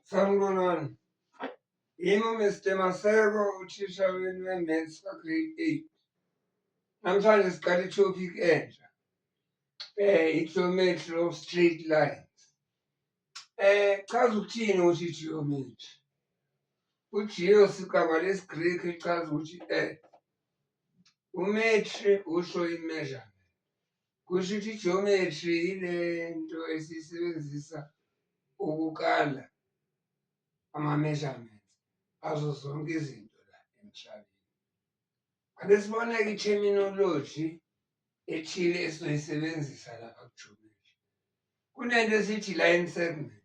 Sanibonani. Yimi uMr Maseko uthisha wenu we-maths ka-grade eight. Namhlanje siqala i-topic entsha um i-geometry of straight lines. Um chaza ukuthini ukuthi i-geometry? UGeo sigama lesiGreki echaza ukuthi earth. Umetri usho i-measurement. Kusho ukuthi i-geometry yile nto esiyisebenzisa ukukala ama-measurements azo zonke izinto la emhlabeni. Ake sibona-ke i-terminology ethile esizoyisebenzisa lapha ku-geometry. Kunento esithi line segment.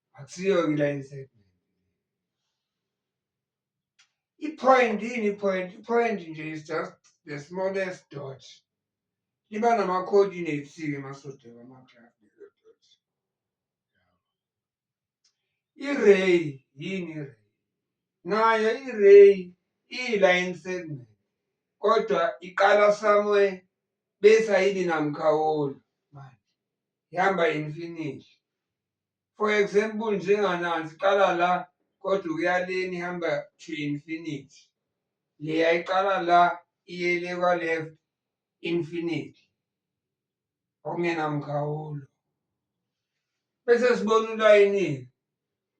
akusiyo ngila inside ipoint yini ipoint ipoint nje is just the smallest dot liba nama-coordinates-ke masoda wama-club i-ray yini i-ray nayo i-ray iyi-line segment kodwa iqala somewhere bese ayibi namkhawulo manje ihamba infinity For example njenganansi iqala la kodwa ukuya leni ihamba to infinity. Leya iqala la iye le kwa-left infinity okungenamkhawulo. Bese sibona ulayini-ke.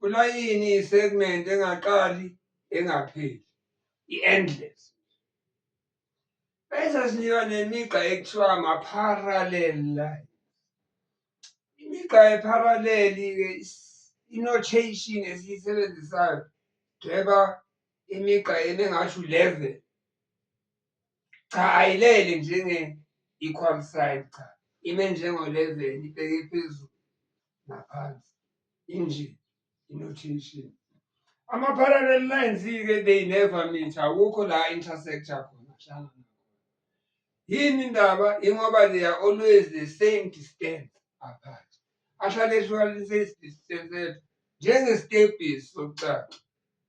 Ulayini iyisegment engaqali engapheli, i-endless. Bayisazinika nemigqa ekuthiwa ama-parallel line. Imigqa ye-parallel-ke i-notation esiyisebenzisayo dweba imigqa eme ngasho u-level. Cha ayilele njenge equal sign cha ime njengo-level ibheke phezulu naphansi injini. inothension ama-parallel lines-ke they never meet akukho la intersector khona hlangana yini indaba ingoba they are always the same distance apart ahlale ehlukanise distance njengestebhisi sokucala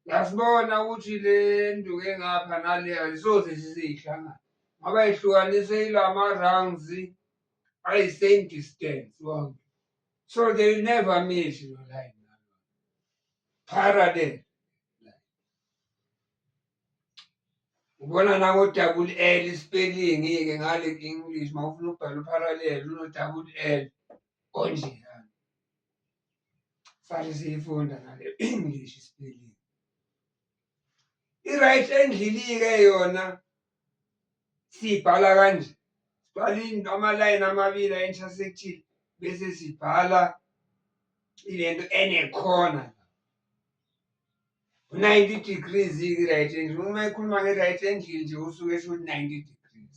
yasibona ukuthi le nduke ngapha naleya zisoze siziyihlangana ngoba ihlukanise ilama-rounds ayi-same distance wonke So they never miss your line. Parade. Ubona na ko double L spelling ngeke ngale English mawufuna ubhala parallel uno double L onje yani. Fanele siyifunda ngale English spelling. i-right endlini-ke yona siyibhala kanje sibhala amalayini amabili a-intersectile bese sibhala ilento enekhona u-ninety degrees i-right angle uma ekhuluma nge-right angle nje usuke esho ukuthi ninety degrees